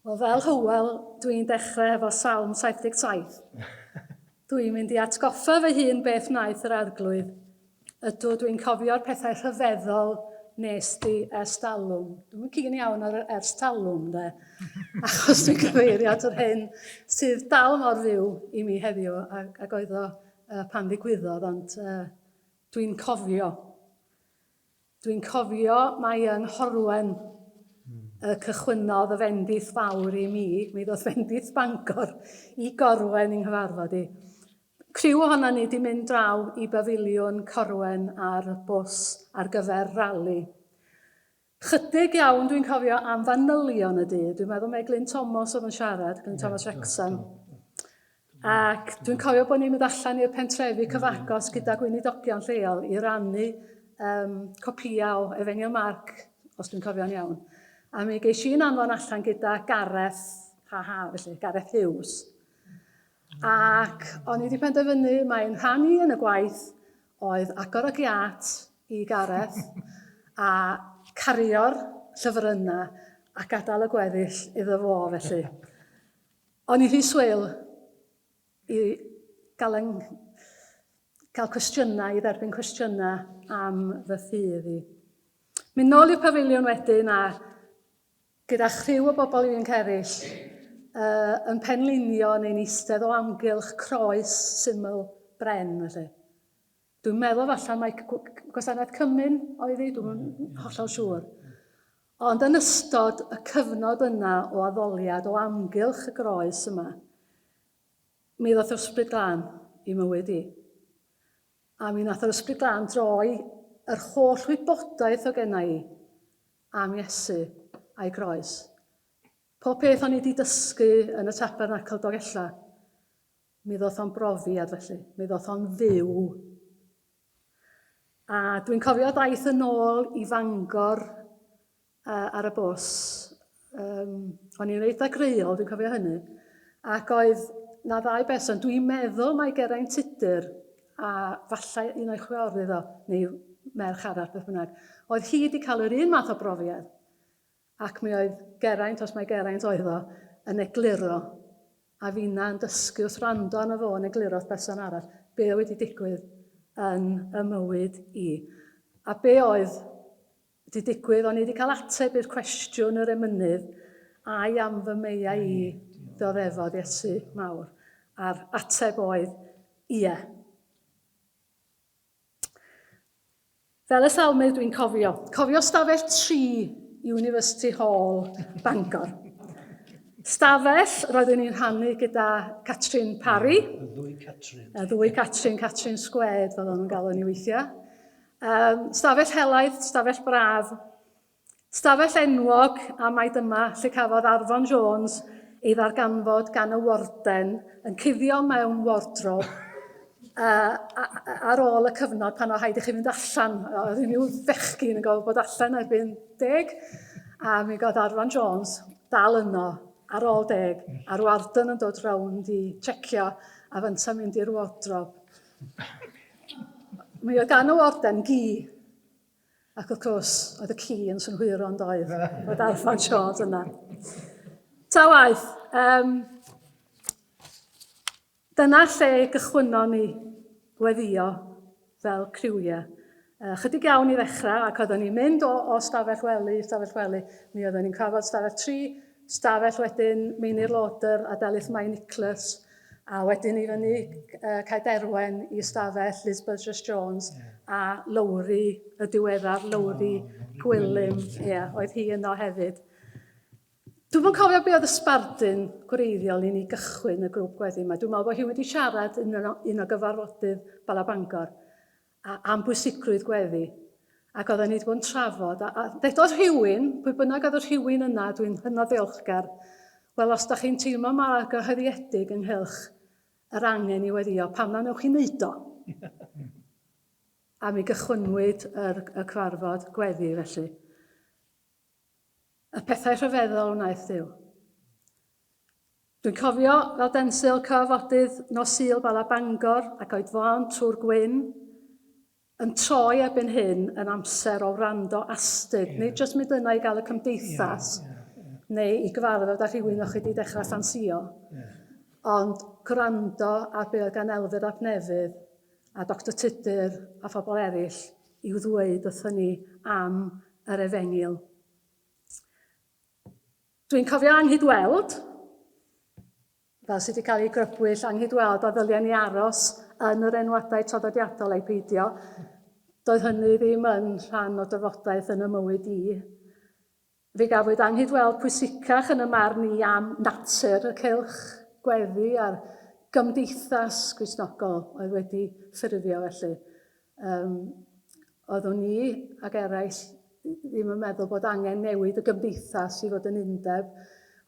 Wel, fel Hywel, dwi'n dechrau hefo Salm 77. Dwi'n mynd i atgoffa fy hun beth wnaeth yr arglwydd. Ydw, dwi'n cofio'r pethau rhyfeddol nes di ers talwm. Dwi'n cyn iawn ar ers talwm, de. Achos dwi'n cyfeirio at yr hyn sydd dal mor fyw i mi heddiw ac, ac oedd o uh, pan ddigwyddodd, ond uh, Dwi'n cofio. Dwi'n cofio mai yng Nghorwen y cychwynnodd y fendith fawr i mi. Mi ddoth fendith Bangor i Gorwen yng nghyfarfod i. Criw ohonon ni 'di mynd draw i bafiliwn Corwen ar bws ar gyfer rali. Chydig iawn dwi'n cofio am fanylion y du. Dwi'n meddwl mae Glyn Tomos oedd yn siarad, Glyn Tomos Wrecsam. Ac dwi'n cofio bod ni'n mynd allan i'r pentrefi cyfagos gyda gweinidogion lleol i rannu um, copïau o Efengyl Marc, os dwi'n cofio'n iawn. A mi geis i'n anfon allan gyda Gareth, ha ha, felly, Gareth Hughes. Ac o'n i wedi penderfynu, mae'n rhan i yn y gwaith, oedd agor y giât i Gareth a cario'r llyfryna a gadael y gweddill iddo fo felly. O'n i rhy swil i gael yng cael cwestiynau, i dderbyn cwestiynau am fy ffydd i. Mynd nôl i'r pafiliwn wedyn a gyda chriw o bobl ifanc eraill, yn penlinio neu'n eistedd o amgylch croes syml bren felly. Dwi'n meddwl falle mai gwasanaeth Cymru'n oedd hi, dwi'n yn hollol siŵr. Ond yn ystod y cyfnod yna o addoliad o amgylch y groes yma, mi ddoth yr ysbryd glân i mywyd i. A mi nath yr ysbryd glân droi yr holl wybodaeth o genna i am Iesu a'i groes. Pob peth o'n i wedi dysgu yn y Tabernacl Dolgella, mi ddoth o'n brofiad felly, mi ddoth o'n fyw. A dwi'n cofio daith yn ôl i Fangor uh, ar y bws. Um, o'n i'n eitha greiol, dwi'n cofio hynny. Ac oedd na ddau berson, dwi'n meddwl mae Geraint Tudur a fallai un o'i chwiorydd iddo, neu merch arall, beth bynnag, oedd hi wedi cael yr un math o brofiad. Ac mi oedd Geraint, os mai Geraint oedd o, yn egluro, a finna yn dysgu wrth rando arno fo yn egluro wrth berson arall, be oedd wedi digwydd yn y mywyd i. A be oedd Di digwydd, o'n i di cael ateb i'r cwestiwn yr emynydd, ai am fy meia i, dioddefod Iesu mawr, a'r ateb oedd, ie. Fel y salmydd dwi'n cofio, cofio stafell tri i University Hall, Bangor. Stafell roeddwn i'n rhannu gyda Catrin Parry. Y ddwy Catrin. Y ddwy Catrin, Catrin Sgwed, fel o'n nhw'n galw ni weithiau. Um, stafell helaeth, stafell braf, stafell enwog a mae dyma lle cafodd Arfon Jones ei ddarganfod gan y warden yn cuddio mewn wardrob uh, ar ôl y cyfnod pan oedd haid i chi fynd allan. Oedd unrhyw fechgyn yn gofod bod allan erbyn deg, a mi god Arfon Jones dal yno ar ôl deg, a'r warden yn dod rownd i checio a fynt yn mynd i'r wardrob. Mae o dan y warden, gi. Ac wrth gwrs, oedd y ci yn synhwyro yn doedd, o darfod siod yna. Ta waith, um, dyna lle gychwynnon ni weddio fel criwiau. Ychydig iawn i ddechrau ac oedden ni'n mynd o, o stafell wely i stafell wely. Mi oedden ni'n cyfarfod stafell tri, stafell wedyn Meinir Lodern a Delyth Mae Nicholas a wedyn i fyny uh, Cae Derwen i stafell Liz Burgess Jones yeah. a Lowri y diweddar, Lowri oh, Gwilym, ie, yeah, oedd hi yno hefyd. Dwi'n yn cofio be oedd y sbardun gwreiddiol i ni gychwyn y grŵp gweddi yma. Dwi'n meddwl bod hi wedi siarad yn un o gyfarfodydd Bala Bangor. a am bwysigrwydd gweddi, ac oedden ni wedi bod yn trafod, a, a ddedodd rhywun, pwy bynnag oedd y rhywun yna, dwi'n hynod ddeolchgar, wel os da chi'n teimlo mor argyhoeddiedig ynghylch yr angen i weddio, pam na newch chi wneud o? a mi gychwynnwyd yr, y cyfarfod gweddi felly. Y pethau rhyfeddol wnaeth Duw. Dwi'n cofio fel densil cyfafodydd nos Sul Bala Bangor ac oedfaon Tŵr Gwyn yn troi erbyn hyn yn amser o wrando astud, yeah. nid jyst mynd yna i gael y cymdeithas yeah, yeah, yeah. neu i gyfarfod â rhywun o'ch chi wedi dechrau ffansio, yeah. ond gwrando ar be oedd gan Elfed ap Nefydd a Doctor Tudur a phobl eraill i'w ddweud wrthon ni am yr Efengyl. Dwi'n cofio anghydweld, fel sydd wedi cael ei grybwyll, anghydweld a ddyliau ni aros yn yr enwadau traddodiadol ei peidio. Doedd hynny ddim yn rhan o dyfodaeth yn y mywyd i. Fe gafwyd anghydweld pwysicach yn y marn i am natur y cylch gweddi a'r gymdeithas Gristnogol oedd wedi ffurfio felly. Yym, oeddwn i ac eraill ddim yn meddwl bod angen newid y gymdeithas i fod yn undeb.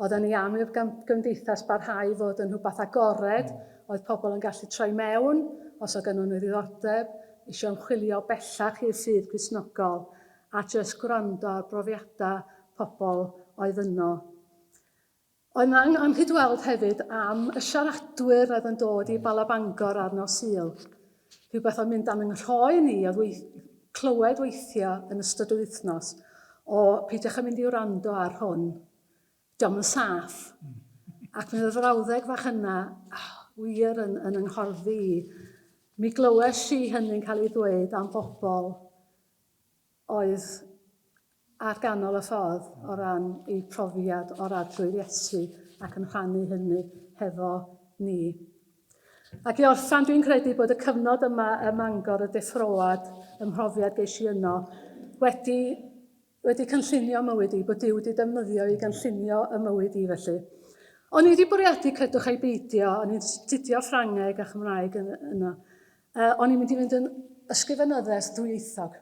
Oedden ni am i'r gymdeithas barhau fod yn rhywbeth agored, oedd pobl yn gallu troi mewn os oedd gennyn nhw ddiddordeb, eisiau ymchwilio bellach i'r ffydd Gristnogol, a jyst gwrando ar brofiadau pobl oedd yno. Oedd 'na anghyd weld hefyd am y siaradwyr oedd yn dod i Bala Bangor ar nos Sul. Rhywbeth oedd mynd am yng nghroen i oedd weith, clywed weithio yn ystod yr wythnos o peidiwch â mynd i wrando ar hwn, diolch yn saff. Ac mi oedd y frawddeg fach yna oh, wir yn, yn ynghorddi i. Mi glywes i hynny'n cael ei ddweud am bobl oedd ar ganol y ffordd o ran eu profiad o'r Arglwydd Iesu ac yn rhannu hynny hefo ni. Ac i orffan, dwi'n credu bod y cyfnod yma ym Mangor y Deffroad, y mhrofiad geis i yno, wedi, wedi cynllunio mywyd i, bod Duw wedi defnyddio i gynllunio y mywyd i felly. O'n i wedi bwriadu, credwch ai beidio, o'n i'n studio Ffrangeg a Chymraeg yno, Uh, o'n i'n mynd i fynd yn ysgrifenyddes ddwyieithog.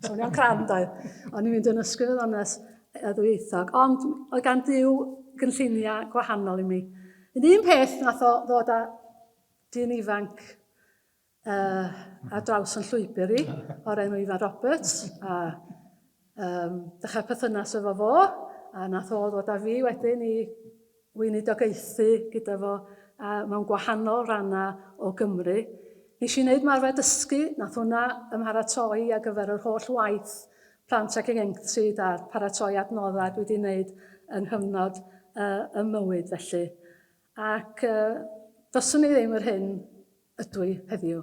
Swnio'n cram, doedd. O'n i'n mynd yn ysgrifenyddes ddwyieithog. Ond oedd gan Dyw gynlluniau gwahanol i mi. Yn un peth nath o ddod â dyn ifanc uh, a draws yn llwybr i, o'r enw Ifan Roberts, a Um, dechrau perthynas efo fo, a nath o ddod â fi wedyn i weinidogaethu gyda fo a mewn gwahanol rannau o Gymru. Nes i wneud marfer dysgu, nath hwnna ymharatoi ar gyfer yr holl waith plant ac ieuenctid a'r paratoi adnoddau dwi wedi wneud yng nghyfnod uh, y mywyd felly. Ac uh, doswn i ddim yr hyn ydw i heddiw.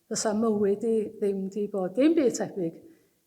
Fysa mywyd i ddim di bod dim byd tebyg